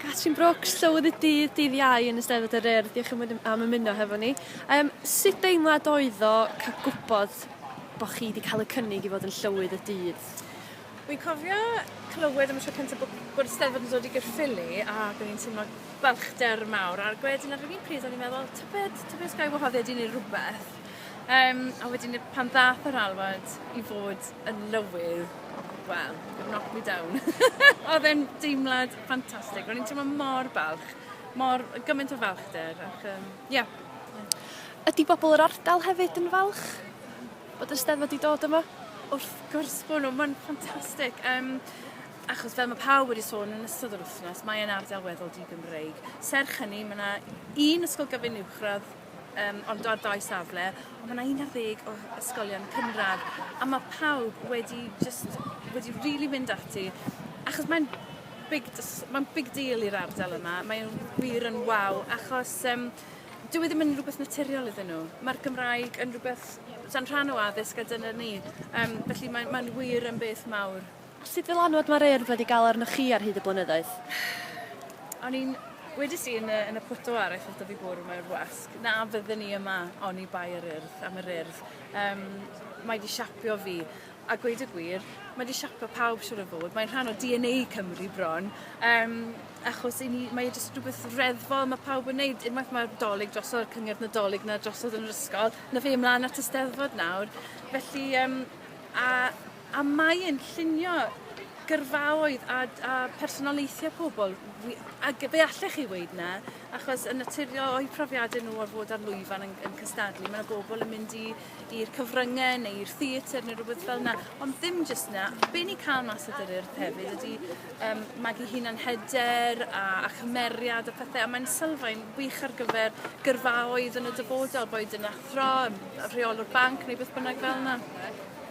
Catrin Brooks, Llywydd-y-Dydd dydd Iau yn Eisteddfod yr Urdd, diolch yn am ymuno hefo ni. Um, sut deimlad oedd o cael gwybod bod chi wedi cael y cynnig i fod yn Llywydd y Dydd? Wy'n cofio clywed am y tro cyntaf bod, bod Eisteddfod yn dod i Gyrffili a gwneud i'n teimlo balchder mawr. A'r gwedyn ar yr un pryd o'n i'n meddwl, tybed, tybed gael wahoddiad i wneud rhywbeth. Um, a wedyn pan ddath yr alwad i fod yn lywydd, well, it knocked me down. Oedd e'n deimlad ffantastig. Ro'n i'n teimlo mor balch, mor gymaint o falchder. Ac, um, yeah. Ydy bobl yr ardal hefyd yn falch bod y steddfod wedi dod yma? Wrth gwrs bod nhw, mae'n ffantastig. Um, achos fel mae pawb wedi sôn yn ystod yr wythnos, mae'n ardal weddol di-Gymreig. Serch hynny, mae yna un ysgol gyfun uwchradd Yym ond ar dau safle on' ma' 'na un ar ddeg o ysgolion cynradd a ma' pawb wedi jyst wedi rili mynd ati achos mae'n big jys- ma'n big deal i'r ardal yma mae e'n wir yn waw achos yym dyw e ddim yn rwbeth naturiol iddyn nw. Ma'r Gymraeg yn rwbeth sa'n rhan o addysg a dyna ni. Yym felly mae'n mae'n wir yn beth mawr. Sut ddylanwad mae'r Urdd wedi gael arnoch chi ar hyd y blynyddoedd? O'n i'n wedis i yn y, yn y photo ar ei photo fi bwrw mae'r wasg, na fydden i yma oni bai yr Urdd, am yr Urdd. Um, mae wedi siapio fi, a gweud y gwir, mae wedi siapio pawb siwr o fod, mae'n rhan o DNA Cymru bron, um, achos ni, mae e jyst rhywbeth reddfol, mae pawb yn neud, unwaith mae'r dolyg drosodd, cyngerdd nadolig na drosodd yn yr ysgol, na fe ymlaen at y steddfod nawr, felly, um, a A mae e'n llunio gyrfaoedd a d- a personoliaethe pobl wi- ag fe allech chi weud 'na achos yn naturiol o'u profiade nw o fod ar lwyfan yn yn cystadlu ma' 'na bobl yn mynd i i'r cyfrynge neu i'r theatr ne' rwbeth fel 'na ond ddim jyst 'na be' ni'n ca'l mas o Dŷ'r Urdd hefyd ydi yym magu hunan hyder a a chymeriad a phethe a mae'n sylfaen wych ar gyfer gyrfaoedd yn y dyfodol boed yn athro yym yy rheolwr banc neu beth bynnag fel 'na.